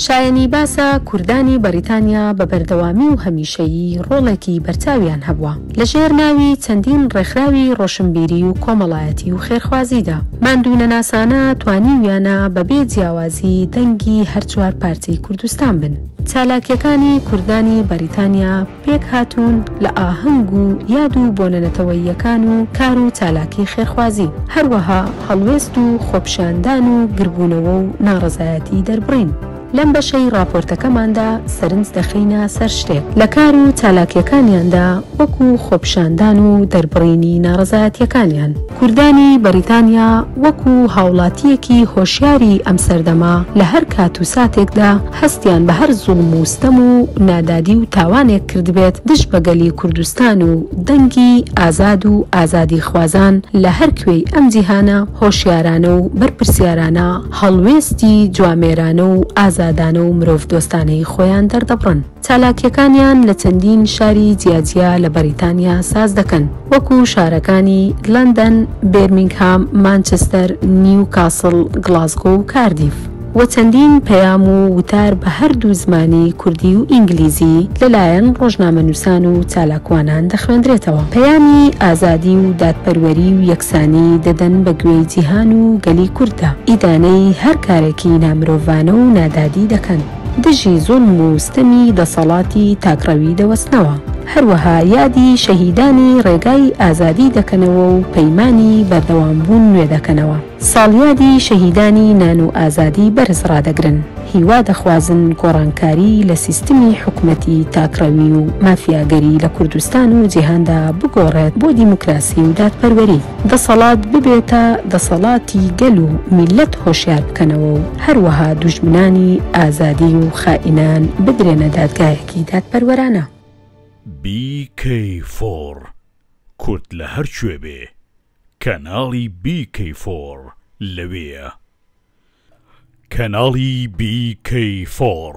شایەنی باسە کوردانی بەڕیتانیا بە بەردەوامی و هەمیشەیی ڕۆڵێکی بەرچاویان هەبووە لە ژێر ناوی چەندین ڕێکخراوی ڕۆشنبیری و کۆمەڵایەتی و خێرخوازیدا. ماندوونەناسانە توانیویانە بە بێ جیاوازی دەنگی هەر چوار پارچەی کوردستان بن. چالاکییەکانی کوردانی بەریتانیا، پێکهاتوون لە ئاهەنگ و یاد و بۆنە نەتەوەییەکان و کار و چالاکی خێرخوازی، هەروەها هەڵوێست و خۆپیشاندان و گربوونەوە و ناڕەزایەتی دەربڕین. لەم بەشەی ڕاپۆرتەکەماندا سەرنج دەخەینە سەر شتێک لە کار و چالاکییەکانیاندا وەکو خۆپیشاندان و دەربڕینی ناڕەزایەتییەکانیان. کوردانی بەریتانیا وەکو هاوڵاتییەکی هۆشیاری ئەم سەردەمە لە هەر کات و ساتێکدا هەستیان بە هەر زوڵم و ستەم و نادادی و تاوانێک کردبێت دژ بە گەلی کوردستان و دەنگی ئازاد و ئازادیخوازان لە هەر کوێی ئەم جیهانە هۆشیارانە و بەرپرسیارانە هەڵوێستی جوامێرانە و ئازادانە و مرۆڤدۆستانەی خۆیان دەردەبڕن. چالاکییەکانیان لە چەندین شاری جیاجیا لە بەریتانیا ساز دەکەن، وەکو شارەکانی لەندەن، بێرمینگهام، مانچستەر، نیوکاسڵ، گڵاسگۆ و کاردیف. و چەندین پەیام و وتار بە هەردوو زمانی کوردی و ئینگلیزی لەلایەن ڕۆژنامەنووسان و چالاکوانان دەخوێندرێتەوە، پەیامی ئازادی و دادپەروەری و یەکسانی دەدەن بە گوێی جیهان و گەلی کورددا، ئیدانەی هەر کارێکی نامرۆڤانە و نادادی دەکەن، دژی زوڵم و ستەمی دەسەڵاتی تاکڕەوی دەوەستنەوە، هەروەها یادی شەهیدانی ڕێگای ئازادی دەکەنەوە و پەیمانی بەردەوامبوون نوێ دەکەنەوە. ساڵیادی شەهیدانی نان و ئازادی بەرز ڕادەگرن، هیوا دەخوازن گۆڕانکاری لە سیستمی حکومەتی تاکڕەوی و مافیاگەری لە کوردستان و جیهاندا بگۆڕێت بۆ دیموکراسی و دادپەروەری، دەسەڵات ببێتە دەسەڵاتی گەل و میللەت هۆشیار بکەنەوە و هەروەها دوژمنانی ئازادی و خائینان بدرێنە دادگایەکی دادپەروەرانە. BK4، کورد لە هەر کوێ بێ، کەناڵی بی کەی فۆڕ لەوێیە. کەناڵی بی کەی فۆڕ.